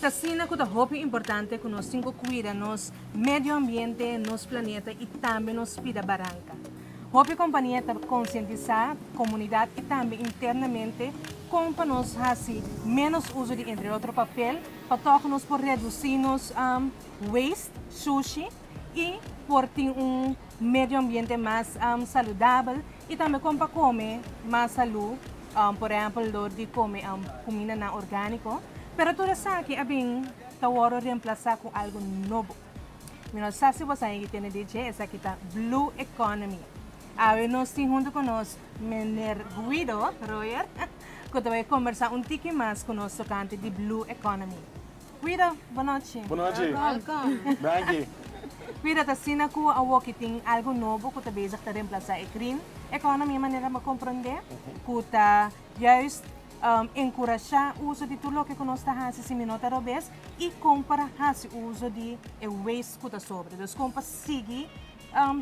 T'asina cu ta hopi importante cu nos tin cu cuida nos medio ambiente, nos planeta y tambe nos spida baranca. Hopi compania ta concientisa comunidad y tambe internamente con pa nos haci menos uzo di entre otro papel pa toco nos por reduci nos waste, sushi, y por tin un medio ambiente mas saludabel. I tambe kon pa kome mas salú, por ehèmpel dor di kome kumindanan orgániko. Pero tur esaki a bin ta wòrdu remplasá ku algu nobo. Mi no sa si bo sa yegi tende di dje, esaki ta blue economy. Awe nos tin huntu ku nos meneer Guido Royer ku ta bai kombersá un tiki mas ku nos tokante di blue economy. Guido, Bo nochi. Bo nochi. Welkom. Danki. Guido, ta asina ku awoki tin algu nobo ku ta bezig ta remplasá e krim ekonomi manera mi a komprondé ku ta juis enkurashá uso di tur loke ku nos ta hasi si mi no ta robes i kon para hasi uso di e weist ku ta sobra. Dus kon pa sigui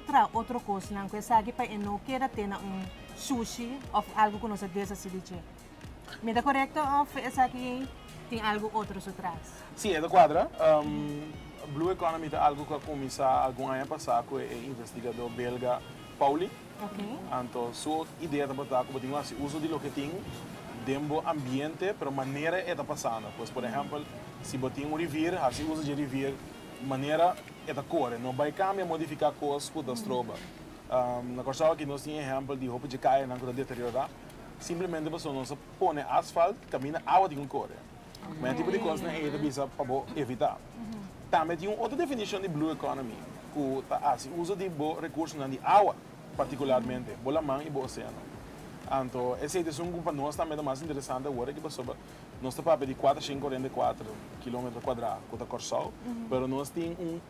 traha otro kosnan ku esaki pa e no keda te na un shushi òf algu ku nos a deshasí di dje. Mi ta korekto òf esaki tin algu otro su tras? Sí, e ta kuadra. Blue Economy ta algu ku a kuminsá algun aña pasá ku e investigadó belga Pauly. Anto su idea tabata ku bo tin ku hasi uso di loke tin den bo ambiente pero manera e ta pasando. Pues por ehèmpel si bo tin un rivier, hasi uso dje rivier manera e ta kore, no bai kambia, modifiká kos ku ta stroba. Na Kòrsou aki nos tin ehèmpel di hopi dje kayanan ku ta deteriorá. Simplemente pasobra nos a pone asfalt caminda awa tin cu core. Ma e tipo di cosnan ey ta bisa pa bo evita. Tambe tin un otro definicion di blue economy cu ta haci uso di bo recursonan di awa, particularmente bo laman y bo oceano. Anto e sitioson cu pa nos tambe ta mas interesante awor aki pasobra nos ta papia di cuatro shin cuarenta y cuatro kilometro cuadra cu ta Corsou, pero nos tin un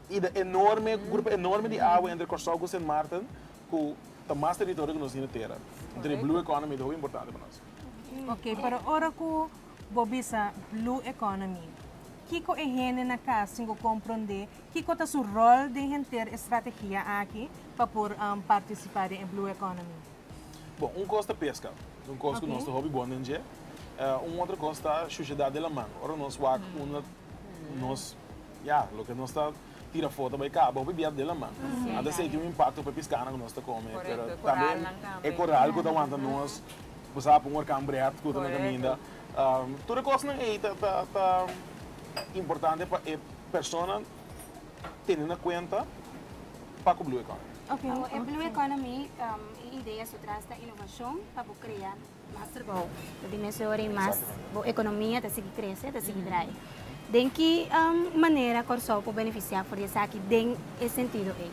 ida enorme, grupo enorme di awa entre Corsou cu Sint Maarten Cu ta mas territorio cu nos tin e tera. Entonces e blue economy ta hopi importante pa nos. Ok, pero ora cu bo bisa blue economy, kico e hende na cas tin cu comprende, kico ta su rol den henter e strategia aki pa por participa den e blue economy? Bon, un cos ta pesca, un cos cu nos ta hopi bon den dje. Un otro cos ta shuciedad di laman. Ora nos wak unda nos, ya, loke nos ta. tira foto bay caba hopi bia de laman a ta sey tin un impacto pa e piscanan cu nos ta come pero tambe e coral cu ta wanta nos bo sa pon work cambreat cu ta na caminda tur e cosnan ey ta ta ta importante pa e persona tene na cuenta pa cu blue economy. Ok ok e blue economy e idea su tras ta innovacion pa bo crea Mas trabou ta di mes ora y mas bo economia ta sigui crece, ta sigui draai. Den ki manera Corsou por beneficia for di esaki den e sentido ey?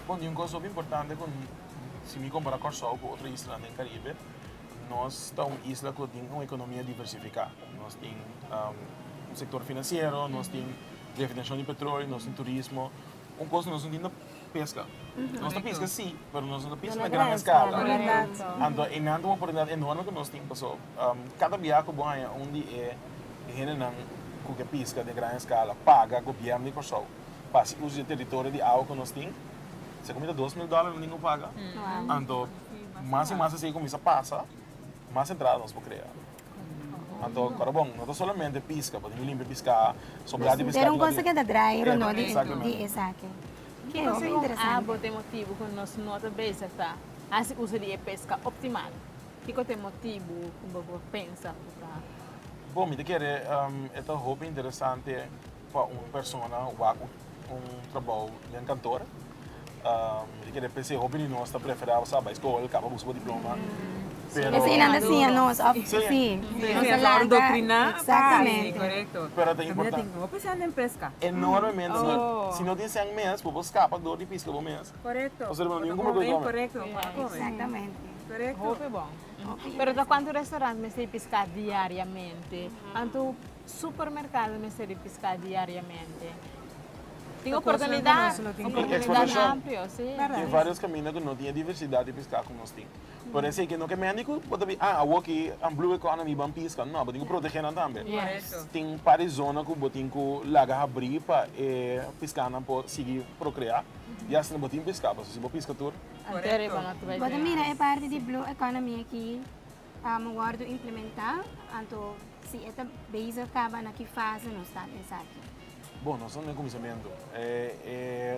Bon, tin un cos hopi importante cu si mi compara Corsou cu otro islanan den Caribe, nos ta un isla cu tin un economia diversifica. Nos tin un sector financiero, nos tin refinaciacion di petroleo, nos tin turismo. Un cos nos no tin ta. Peska. Nos ta piska sí, pero nos no ta piska na gran eskala. Anto e nan ta wak oportunidat enorme ku nos tin, paso kada bia ku bo haña un di e hendenan ku ke piska den gran eskala paga gobièrnu di Kòrsou pa hasi uso di e teritorio di awa ku nos tin, esei komo ta dos mil dòler nan tin ku paga. Anto mas i mas esei kuminsá pasa, mas entrada nos por krea. Anto para bon, no ta solamente pisca, por tin ki limpia pisca so bra di pisca. Pero un cosa que ta draai Ronoo di esaki. Ki cosa ku un abo ta e motibu ku nos no ta bezig ta hasi uso di e pesca optimal? Kiko ta e motibu ku bo por pensa ku ta. Bon mi ta kere e ta hopi interesante. Pa un persona wak ku un trabou den kantor, e kere p'esei hopi di nos ta preferá sa bai skola, kaba buska bo diploma, pero. Esei nan ta siña nos òf sí, nos ta laga. Korekto. Pero ta importan. Tamia tin hopi esei den peska. Enormemente. Si no tin sèn mes, bo por skapa dor di piska bo mes. Korekto. Pasobra bo no tin kumpra kos kome. Exactamente. Korekto. Hopi bon. Pero ta kuantu restaurant mester piska diariamente? Anto. Supermerkado mester di piská diariamente. Tin oportunidat amplio, si. Tin vários kaminda ku no tin e diversidat di piská ku nos tin. Por esei ke no ke mende ku bo ta bira, ah, awor ke an blue economy mi ban piska. No, bo tin ku protegé nan tambe. Tin un par di zona ku bo tin ku laga habrí pa e piskánan por sigui prokreá, i asina bo tin piská. Pasobra si bo piska tur. Bo ta mira e parti di blue economy aki, Ta wordo implementa, anto si e ta bezig kaba na ki fase nos ta na esaki? Bon, nos ta na e kuminsamentu.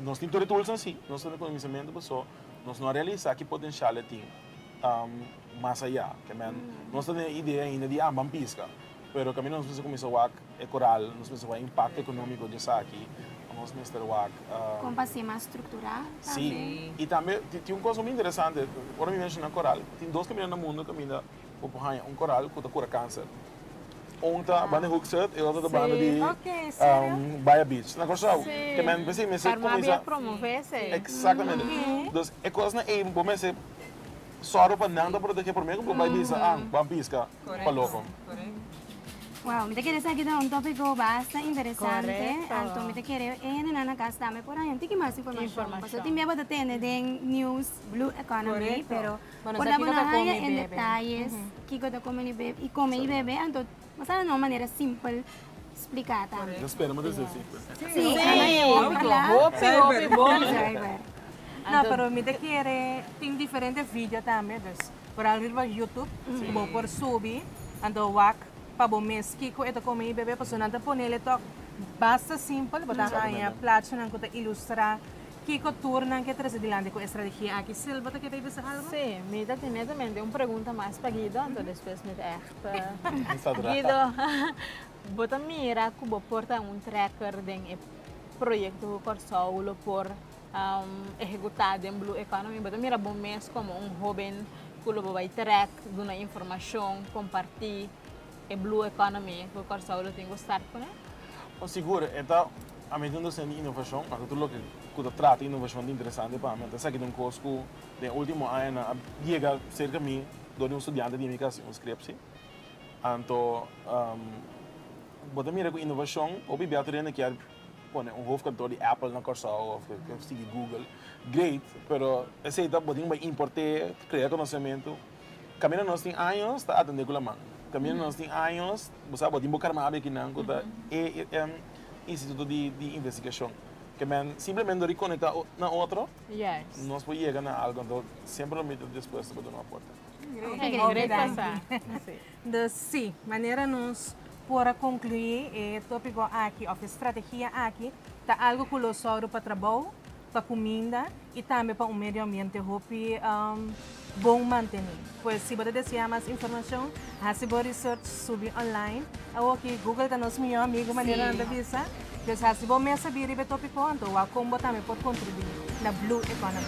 Nos tin tur e tulsnan, si. Nos ta na e kuminsamentu paso nos no a realisa ki potenshial e tin mas aya. Kember, nos ta na e idea ainda di amban piska. Pero caminda nos mester cuminsa wak e coral, nos mester wak e impacto economico di esaki, nos mester wak. Con pa ser mas structura tambe. Si, y tambe tin un cos muy interesante, ora mi menciona coral, tin dos caminda na mundo caminda bo por haya un coral cu ta cura cancer. Un ta banda di Hoeksrud y otro ta banda di Baya Beach. Na Curaçao. Te men mester mester cuminsa. Karma mester promove esey. Exactamente. Dus e cosnan ey bo mester zorgo pa nan ta protege. Prome cu bo bay bisa, ang, ban pisca. Wow, mi ta kere esaki ta un tópiko basta interesante, anto mi ta kere e hendenan na kas tambe por haña un tiki mas informashon, pasobra tin bia bo ta tende den news blue economy, pero por laba nan haña en detayes kiko ta kome ni bebe i kome i bebe, anto bo sa na un manera simpel spliká tambe. Nos spera manera esei simpel. Sí, hopi, hopi. No, pero mi ta kere tin diferente video tambe, dus. Pral riba YouTube bo por subi and a wak pa bo mes kiko e ta come y bebe pasobra nan ta ponele tok basta simpel bo ta haña plaatjenan cu ta ilustra kiko tur nan ke trazi dilanti cu e strategia aki. Sil bo ta kere bisa algo? Si, mi ta tene tambe un pregunta mas pa Guido anto despues mi ta echt Guido bo ta mira cu bo por ta un trekker den e proyecto cu Corsou lo por ehekutá den Blue Economy, bo ta mira bo mes komo un hóben ku lo bo bai trèk, duna informashon, kompartí e Blue Economy ku Kòrsou lo tin ku start kuné? Oh sigur, e ta ami ta indorsá di inovashon, pasobra tur loke ku ta trata inovashon ta interesante pa mi. Ta esaki ta un kos ku den último añanan a yega serka mi dor di un studiante di mi ku a hasi un skripshi. Anto bo ta mira ku inovashon hopi biaha tur hende kier pone un hofkantoor di Apple na Kòrsou òf e ke sigui Google, great, pero esei ta bo tin bai import'é, krea konosementu. Kaminda nos tin años ta atendé ku laman, kaminda nos tin años bo sa bo tin bo karma abia kinan ku ta e en instituto di di investigashon ke men simplemente dor di konektá o na otro nos por yega na algu. Anto semper lo mita dispuesto pa duna aporte. Great. Great pa sa. Dor si, manera nos por a konkluí e tópiko aki òf e strategia aki ta algu ku lo sòru pa trabou, pa kuminda i tambe pa un medio ambiente hopi bon mantené. Pues si bo ta deseá mas informashon hasi bo research subi online. Awo ki Google ta nos mihó amigu manera nan ta bisa. Pues hasi bo mes sabí riba e tópiko anto wak kon bo tambe por kontribuí na blue economy.